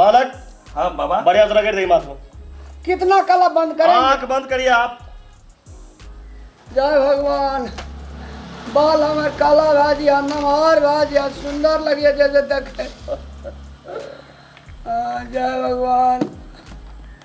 बालक हाँ बाबा बढ़िया से रगड़ दे माथ में कितना कला बंद करें आंख बंद करिए आप जय भगवान बाल हमार काला भाजी आ नमहर भाजी आ सुंदर लगे जैसे देखे आ, जय भगवान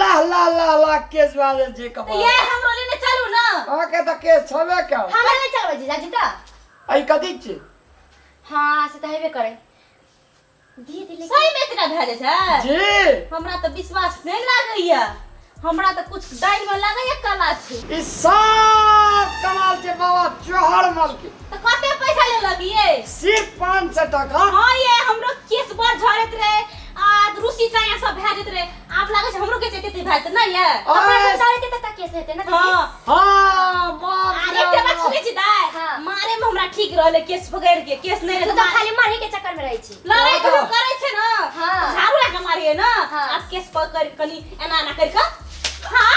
लाह लाह लाह लाह केस भए जाइ छै कपार ये हमरो लेने चलू ना अहाँके तऽ केस छबे कयल हमरा ले चलबै जीजा जी तऽ एहि कथी छै हाँ से तऽ हेबे करै दिए दिले सही में इतना भए जाइ छै जी हमरा तऽ विश्वास नहि लागैया हमरा तऽ कुछ दालि में लागैया कला छै ई सब कमाल छै बाबा चोहर मल के तऽ कते पैसा लेलक ये सिर्फ पाँच सौ टका हाँ ये हमरो केस बड़ झड़ैत रहे आ रूसी काया सब भए जेत रहे आब लागे छै हमरो के जेते ते भए जेते ना ये कपड़ा ओए, गंदा रहते त का केस हेते ना दीदी हां हाँ मार आ दिया एकटा बात हमरा। सुनै छी दाय हाँ। मारे में हमरा ठीक रहले केस पकड़ के केस नहीं तू रहते त खाली मरही के चक्कर में रहै छी लड़ाई हाँ। कहियो करे छै ना हाँ। त झाड़ू लगा मारिए ना हाँ। आ केस पकड़ के कनी एना एना कर के हां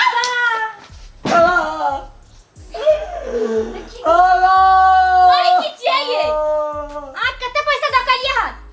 अरे की छियै ये? आ कते पैसा दकलिए हन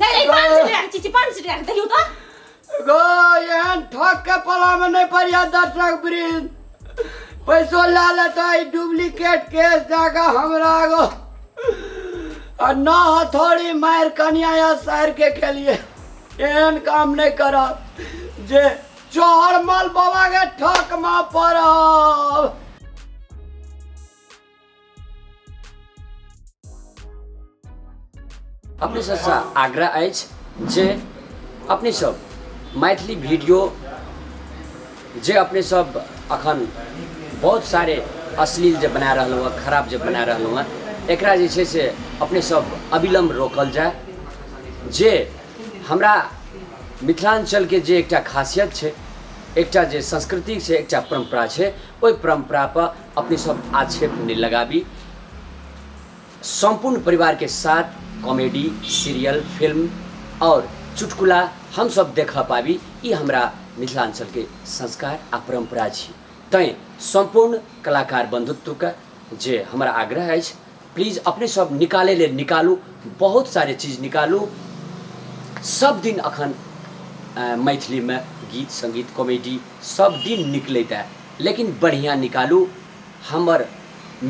नहि ई पान से राख चीची पान से राख देखियो तो गो एहन ठक के पला में नहीं पड़िया दर्शक वृंद पैसो ले लेता ई डुप्लीकेट केस जाके हमरा गो आ ना हथौड़ी मार कनिया या सार के के लिए एहन काम नहीं करब जे चौहर मल बाबा के ठक में पड़ब अपने सबसँ आग्रह अछि जे अपने सब मैथिली वीडियो जे अपने सब अखन बहुत सारे अश्लील जे बना रहल हुआ खराब जे बना रहल हुआ एकरा जे छै से अपने सब अविलम्ब रोकल जाए जे हमरा मिथिलाञ्चलके जे एकटा खासियत छै एकटा जे संस्कृति छै एकटा परम्परा छै ओहि परम्परापर अपने सब आक्षेप नहीं लगाबी संपूर्ण परिवार के साथ कॉमेडी सीरियल फिल्म और चुटकुला हम सब देख पाबी ई हमरा मिथिलांचल के संस्कार आ परंपरा छी तैं संपूर्ण कलाकार बंधुत्व के जे हमरा आग्रह अछि प्लीज अपने सब निकाले ले निकालू बहुत सारे चीज निकालू सब दिन अखन मैथिली में गीत संगीत कॉमेडी सब दिन निकलैत है लेकिन बढ़िया निकालू हमर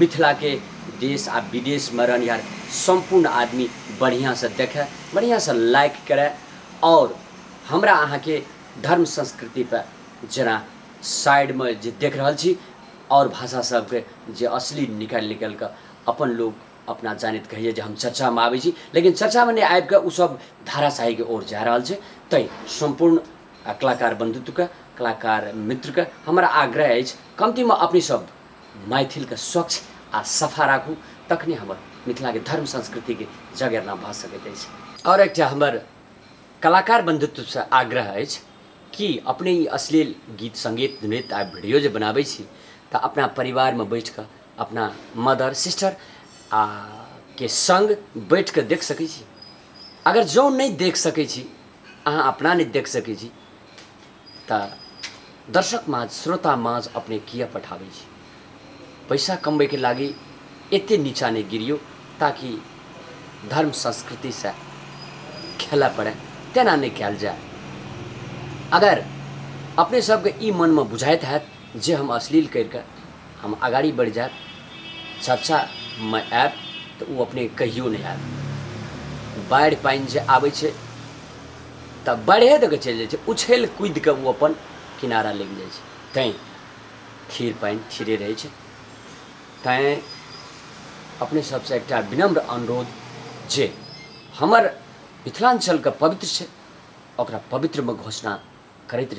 मिथिला के देश आ विदेश में रहनिहार संपूर्ण आदमी बढ़िया से देखे बढ़िया से लाइक करे और हमरा अहाँ के धर्म संस्कृति पर जना साइडमे जे देख रहल छी आओर भाषा सबके जे असली निकालि निकालि कऽ अपन लोक अपना जानैत कहैए जे हम चर्चामे आबै छी लेकिन चर्चामे नहि आबि कऽ ओसभ धाराशाहीके ओर जा रहल छै तै सम्पूर्ण आ, कलाकार बन्धुत्वके कलाकार मित्रके हमर आग्रह अछि कमतीमे अपने सब मैथिलके स्वच्छ आ सफा राखू तखने हमर मिथिलाके धर्म संस्कृतिके जगेरना भऽ सकैत अछि आओर एकटा हमर कलाकार बन्धुत्वसँ आग्रह अछि की अपने ई अश्लील गीत सङ्गीत नृत्य आ भिडियो जे बनाबै छी तऽ अपना परिवारमे बैठ कऽ अपना मदर सिस्टर आ के सङ्ग बैठ कऽ देख सकै छी अगर जँ नहि देख सकै छी अहाँ अपना नहि देख सकै छी तऽ दर्शक माझ श्रोता माझ अपने किए पठाबै छी पैसा कमबैके लागि एते नीचा नहि गिरियौ ताकि धर्म संस्कृतिसँ खेलऽ पड़ै तेना नहि कयल जाय अगर अपने सबके ई मनमे बुझाइत हैत जे हम अश्लील करिके हम अगाड़ी बढ़ि जायब चर्चामे आयब तऽ ओ अपने कहियो नहि आयब बाढ़ि पानि जे आबै छै तऽ बाढ़िए दऽ कऽ चलि जाइ छै उछलि कूदि कऽ ओ अपन किनारा लागि जाइ छै तैं खीर पानि खीरे रहै छै तैँ अपने सबसँ एकटा विनम्र अनुरोध जे हमर मिथिलाञ्चलके पवित्र छै ओकरा पवित्रमे घोषणा करैत रही